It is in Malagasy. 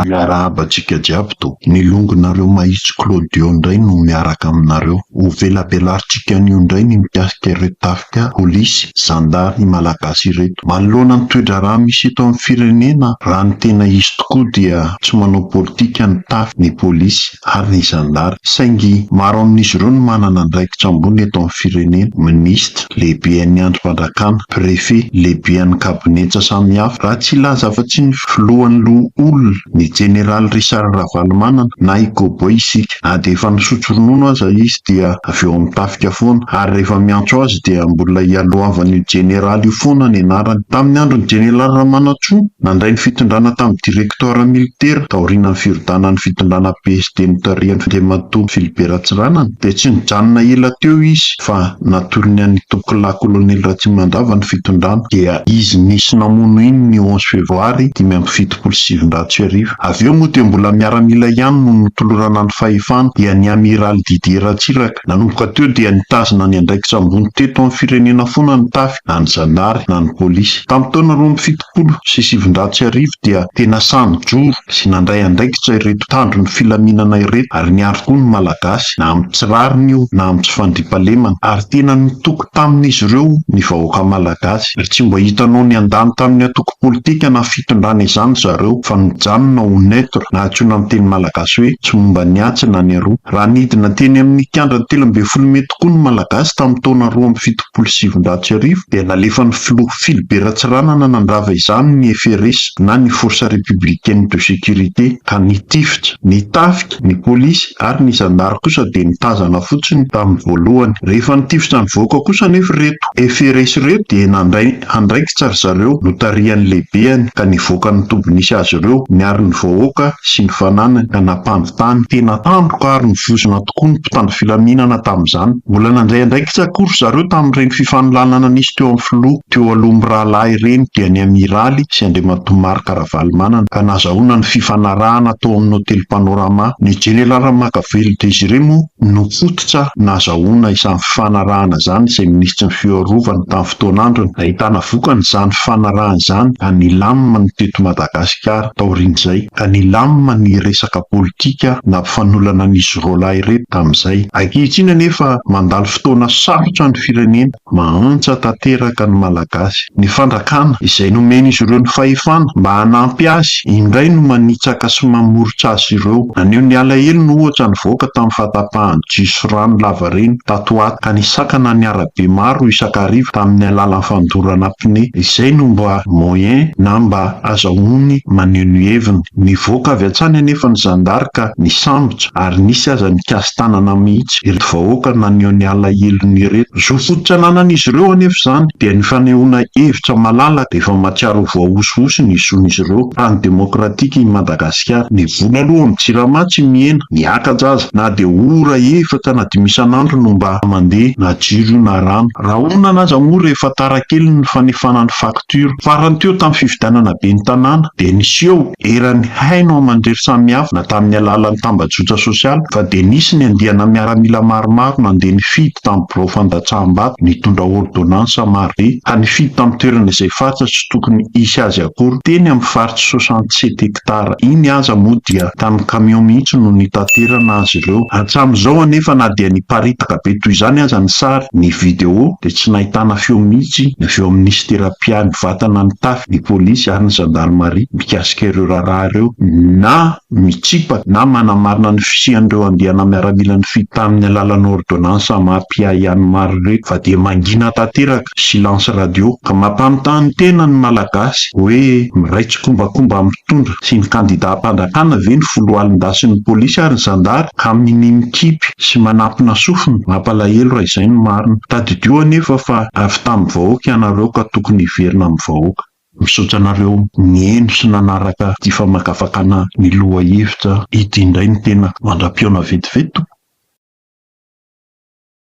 Miarahaba antsika jiaby to. Ny longonareo mahitsy Claudio ndray no miaraka aminareo. Ho velabelarintsika anio ndray ny mikasika ireo tafika. Politika, Polisy, Zandary ny Malagasy ireto. Manoloana ny toe-draharaha misy eto amin'ny firenena, raha ny tena izy tokoa dia tsy manao politika ny Tafy, ny Polisy ary ny Zandary. Saingy maro amin'izy ireo no manana andraikitra ambony eto amin'ny firenena, Minisitra, Lehiben'ny Andrim-pandrakana, Préfet, Lehiben'ny Kabinetsa samihafa. Raha tsy hilaza afa-tsy ny Filohan'ny Loholona, ny Jeneraly Richard Ravalomanana na i Cowboy isika. Na dia efa nisotro ronono aza izy dia avy eo amin'ny tafika foana. Ary rehefa miantso azy dia mbola ialohavan'io jeneraly io foana ny anarany. Tamin'ny andron'ny jeneraly Ramanantsoa, nandray ny fitondrana tamin'ny direktora militera taorianan'ny firodanan'ny fitondrana PSD notarihan'Andriamatoa Philibert Ratsiranana dia tsy nijanona ela teo izy fa natolony an'Itokilahy Kolonely Ratsimandrava ny fitondrana. Dia izy nisy namono iny ny onze febroary dimy amby fitopolo sy sivinjato sy arivo iny. fitopolo sy sivinjato sy arivo. Avy eo moa dia mbola miaramila ihany no notolorana ny fahefana dia ny Amiraly Didier Ratsiraka. Nanomboka teo dia nitazona ny andraikitra ambony teto amin'ny firenena foana ny Tafy na ny zandary na ny polisy. Tamin'ny taona roa amby fitopolo sy sivinjato sy arivo dia tena sahy nijoro sy nandray andraikitra ireto mpitandro ny filaminana ireto ary niaro koa ny Malagasy na amin'ny tsy rariny io na amin'ny tsy fandriampahalemana ary tena nitoky Tamin'izy ireo, ny vahoaka malagasy, tsy mba hitanao niandany tamin'ny antoko politika na fitondrana izany zareo fa mijanona ho neutre na antsoina amin'ny teny malagasy hoe tsy momba ny atsy na ny aroa. Raha nidina teny amin'ny kianjan'ny telo ambin'ny folo mey tokoa ny malagasy tamin'ny taona roa amby fitopolo sy sivinjato sy arivo dia nalefan'ny filoha Philbert Ratsiranana nandrava izany ny FRS na ny Force Républicaine de Sécurité ka nitifitra ny tafika Ny polisy ary ny zandary kosa dia nitazana fotsiny tamin'ny voalohany. Rehefa nitifitra nivoaka kosa anefa ireto FRS ireto dia nandray andraikitra ry zareo notarihan'ny lehibehany ka nivoaka ny toby nisy azy ireo, niaro ny vahoaka sy ny fananany ka nampandry tany. Tena tandroka ary nivozona tokoa ny mpitandro filaminana tamin'izany. Mbola nandray andraikitra koa ry zareo tamin'ireny fifanolanana nisy teo amin'ny filoha teo aloha mirahalahy ireny dia ny Amiraly sy Andriamatoa Marc. Ravalomanana, ka nazahoana ny fifanarahana tao amin'ny Hotely Panorama. Ny Jeneraly Ramakavelo Désiré moa no fototra nazahoana izany fifanarahana izany izay Minisitry ny Fiarovana tamin'ny fotoana androny. Nahitana vokany izany fifanarahana izany ka nilamina ny teto Madagasikara taorian'izay, ka nilamina ny resaka politika nampifanolana an'izy roalahy ireto tamin'izay. Ankehitriny anefa mandalo fotoana sarotra ny firenena. Mahantra tanteraka ny Malagasy. Ny fandrakana izay nomen'izy ireo ny fahefana mba hanampy azy indray no manitsaka sy mamoritra azy ireo. Naneho ny alahelony ohatra nivoaka tamin'ny fahatapahan'ny jiosy rano lavareny tato ho ato ka nisakana ny arabe maro isakariva tamin'ny alalan'ny fandorana pneu. Izay no mba moyen na mba Azahoany maneho ny heviny. Nivoaka avy hatrany anefa ny zandary ka nisambotra ary nisy aza nikasi-tanana mihitsy ireto vahoaka naneho ny alahelony ireto. Zo fototra ananan'izy ireo anefa izany dia ny fanehoana hevitra malalaka efa mahatsiaro ho voahosihosy ny zon'izy ireo. Tany demokratika i Madagasikara. Ny vola aloha amin'ny jirama tsy mihena, miakaja aza. Na dia ora efatra na dimy isan'andro no mba mandeha na jiro io na rano. Rahonana aza moa rehefa tara kely ny fanefana ny faktura. Dur. Farany teo tamin'ny fifidianana ben'ny tanàna dia niseho eran'ny haino aman-drery samihafa na tamin'ny alalan'ny tambajotra sosialy fa dia nisy ny andiana miaramila maromaro nandeha nifidy tamin'ny birao fandatsaham-bato nitondra ôrdônansa marobe ka nifidy tamin'ny toerana izay faritra tsy tokony hisy azy akory teny amin'ny faritra soixante sept Moktar iny aza moa dia tamin'ny kamiao mihitsy no nitaterana azy ireo. Hatramin'izao anefa na dia niparitaka be toy izany aza ny sary, ny video, dia tsy nahitana feo mihitsy ny avy ao amin'ny Minisitera mpiahy vatana mitafy ny polisy ary ny zandarimaria mikasika ireo raharaha ireo, na mitsipaka na manamarina ny fisian'ireo andiana miaramila nifidy tamin'ny alalan'ny ôrdônansa maha-mpiahy an'i Mary ireto fa dia mangina tanteraka. Silence Radio, ka mampanontany tena ny Malagasy hoe miray tsikombakomba amin'ny mpitondra sy ny kandida am-panjakana ve ny foloalindasin'ny polisy ary ny zandary ka minia mikipy sy manampina sofina? Mampalahelo raha izay no marina. Tadidio anefa fa avy tamin'ny vahoaka ianareo ka tokony hiverina amin'ny vahoaka. Misaotra anareo nihaino sy nanaraka ity famakafakana ny lohahevitra ity indray ny tena mandra-pihaona vetivety tompoko.